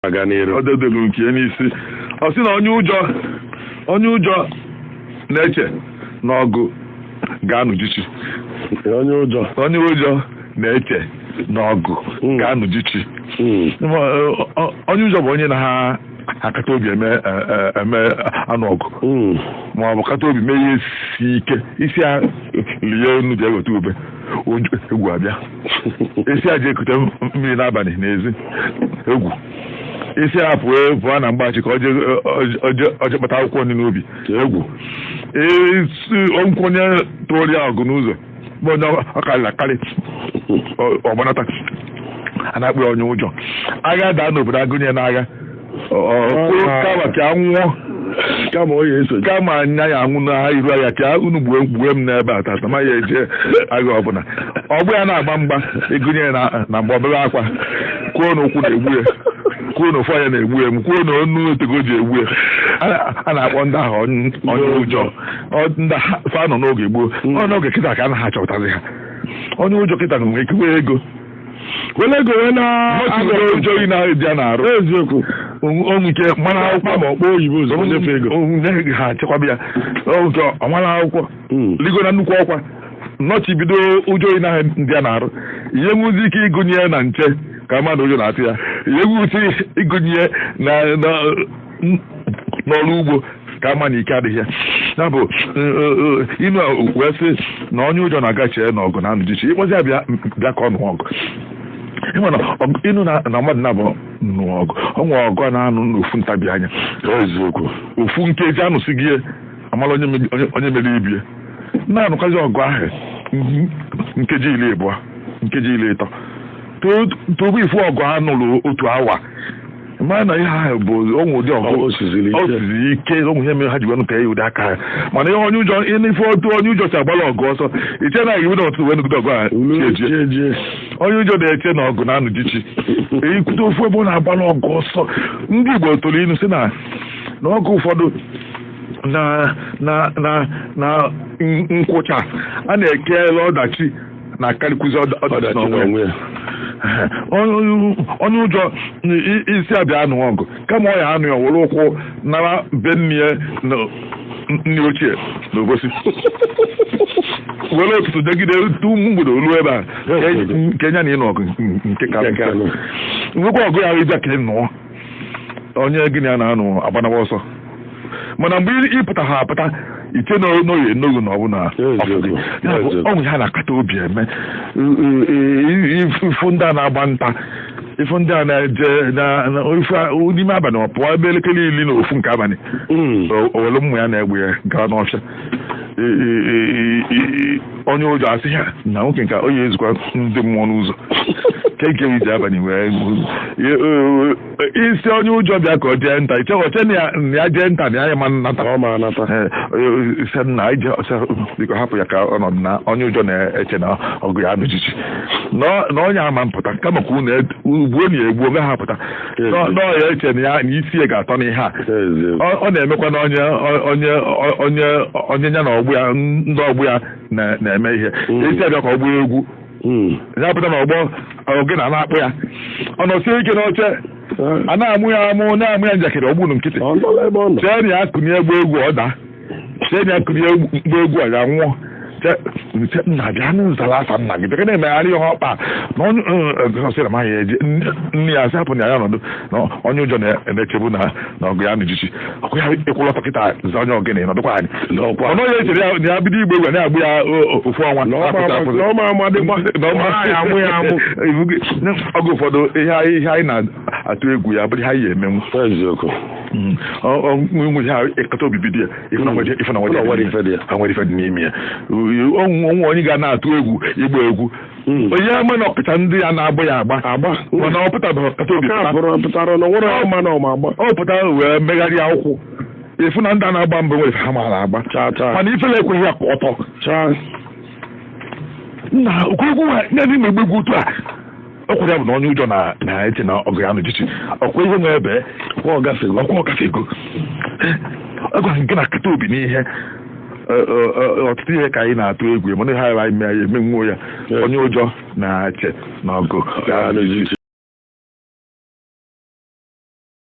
aga n'iru ọ dedelu nke ya n'isi ọ sị na onye ụjọ onye ụjọ na-eche na ọgụ ga-anụjichi onye ụjọ onye ụjọ na-eche na ọgụ Mm. ga-anụjichi Mm. Ma, eh, ọ- onye ụjọ bụ onye naha akata obi eme eh, eh, eme anụ ọgụ Mm. ma ọ bụ kata obi mee ihe si ike ị sị ya lie enu je weta ube Onye- egwu abịa ị sị ya je kute mmiri n'abalị n'ezi egwu ị sị ya pụọ pụọ na mgbachi ka o je kpata akwụkwọ nri n'ubi egwu o nwekwu onye tụrụ ya ọgụ n'ụzọ bụ onye ọ karịrị akarị ọ gbanata a na-akpọ ya onye ụjọ agha daa n'obodo a gụnye n'agha kama ka a nwụọ kama ọ ya-eso kama anya ya anwụ na iru ya ka unu gbue gbue m n'ebe a tata ma ya eje agha ọ bụlụ na ọgbọ ya na-agba mgba ị gụnye ya na- na mgba o bewe akwa kwuo na ụkwụ na-egbu ya kwuo na ofu anya na-egbu ya m kwuo na onu o tego ji egbu ya A- a na-akpọ ndị ahụ onye onye ụjọ Ọ- ndị ha- fa nọ n'oge gboo ọ n'oge kịta ka a naha achọpụtazi ha onye ụjọ kịta nwere ike nwee ego wele ego wee na agara ụjọ yi na eji a na-arụ eziokwu o nwe ike mara akwụkwọ ma ọ kpọ oyibo ụzọ nyefe ego onye ha chekwaba ya oge ọ mara akwụkwọ hmm. ligo na nnukwu ọkwa nọchibido ụjọ yi na ndị a na-arụ ị ya-enwezi ike ịgụnye na nche ka a ma na ụjọ na-atụ ya ị ya-enwezi ịgụnye na n'ọrụ ugbo ka a ma na ike adịghị ya ya bụ inu wee sị na onye ụjọ na-aga eche na ọgụ na-anụjichi ị kpọzi ya bịa bịa ka ọ nụ ọgụ ị ma na ọgụ- ị nụ na na mmadụ naabọ nụ ọgụ ọ nwere ọgụ a na-anụ n'ofu ntabi anya eziokwu ofu nkeji a nụsịgo a mala onye mebi- onye- onye meri ibe ya na-anụkwazi ọgụ ahụ mhm, nkeji iri abụọ nkeji iri ịtọ tupu ị fụ ọgụ a nụrụ otu awa mara na ihe ahụ bụ o nwe ụdị ọgụ Ọ siziri ike. ọ siziri ike o nwe ihe mere ha ji wee nụpịa ya ụdị aka ahụ mana ihe onye ụjọ ihe n'ife otu onye ụjọ si agbala ọgụ ọsọ i che na iwu n'ụtụtụ wee nụgide ọgụ a chi ejie Chi ejie. onye ụjọ na-eche na ọgụ na-anụjichi ekwute ofu ebe ọ na-agbala ọgụ ọsọ ndị Igbo tụrụ inu sị na na ọgụ ụfọdụ na na na na nkwụcha a na-ekele ọdachi na-akarịkwuzi ọda- ọdachi ọdachi n'onwe ya. n'onwe ya Onye- onye ụjọ i- i- ị sị ya bịa nụ ọgụ kama ọ ya-anụ ya were ụkwụ nara be nne ya na nne ochie na Obosi were ụtụtụ jegide tu mgbede o lu ebe a nke nya na ịnụ ọgụ nke ka Nke ka nụ. nwekwa ọgụ ya ị bịa ka ị nụọ onye gịnị a na-anụ agbanawa ọsọ mana mgbe ị- ị pụta ha apụta iche na n'oyi enoghi na ọ bụ na Eziokwu, Ya bụ, eziokwu. o nwe ihe a na-akata obi eme ị fụ ndị a na-agba nta ị fụ ndị a na-eje na- na- ifu a- n'ime abalị ọ pụọ ebe elekere iri na ofu nke abalị Mm. o were mma ya na egbe ya gawa n'ọfịa onye ụjọ asị ya na nwoke nke onye ezukwa ndị mmụọ n'ụzọ ka ike iji abalị wee isi onye ụjọ bịa ka ọ jee nta iche o chee na ya jee nta na ya ama anata ọ ma anata ise na ije ọcha biko hapụ ya ka ọ nọdụ na onye ụjọ na-eche na ọgụ ya anụjichi na onye ama apụta kama ka unu egbuo na ya egbuo gaghị apụta Ezi. Nọ- nọọ ya eche na ya na isi ya ga-atọ n'ihe a Ezi. ọ ọ na-emekwa na onye onye onye onye ya na ọgbọ ya ndị ọgbọ ya na- na-eme ihe Mm. a sị ya bịa ka ọ gbaa egwu Mm. ya pụta na ọgbọ oge na a na-akpọ ya ọ nọsie ike n'oche a na-amụ ya amụ na-ama ya njakịrị ọ gba nụ nkịtị Ọ nọla ebe ọ nọ. chee na ya kunie gbaa egwu ọ daa chee na ya kunie gbaa egwu ya nwụọ a sị nna bịa nụ zara afa nna gị bịa na-emegharị ihe ọkpa na onye ọ sị na ya amaghị eje nne ya asị hapụnụ ya ọ nọdụ na onye ụjọ na-echebu na na ọgụ ya anụjichi ọkụ ya ị kwụlụ ọtọ kịta za onye ọgịnị nọdụkwa anyị ọnụ ya echere ya na ya bido ịgba egwu na-agbụ ya ofu ọnwa ọ bụ ụfọdụ ihe anyị na-atụ egwu ya bụrụ ihe anyị ya emenwu hmm. nwere ha ịkata obi dị ya ife na hmm. nwere ife dị n'ime ya o nwe onye ga na-atụ egwu ịgba egwu hmm. onye ama na ọ pụta ndị ya na-agba ya agba agba mana ọ pụtabeghị ọ kata obi ọ pụtara wee megharịa ụkwụ ị fụ na ndị a na-agba mbụ nwere ha maara agba mana ifele ekweghị ya ọtọ nna okwu egwu nwa na-agba egwu otu a ọkwụrụ ya bụ na onye ụjọ na- na-eche na ọgụ ya anụjichi ọkwa ihe nwe ebe ọkwa ọgafe ọkwa ọ gafego agwa gị na-akata obi n'ihe Ọ- ọ- ọ- ọtụtụ ihe ka anyị na-atụ egwu mana anyị mee ya emenwuo ya onye ụjọ na-eche na ọgụ ya anụjichi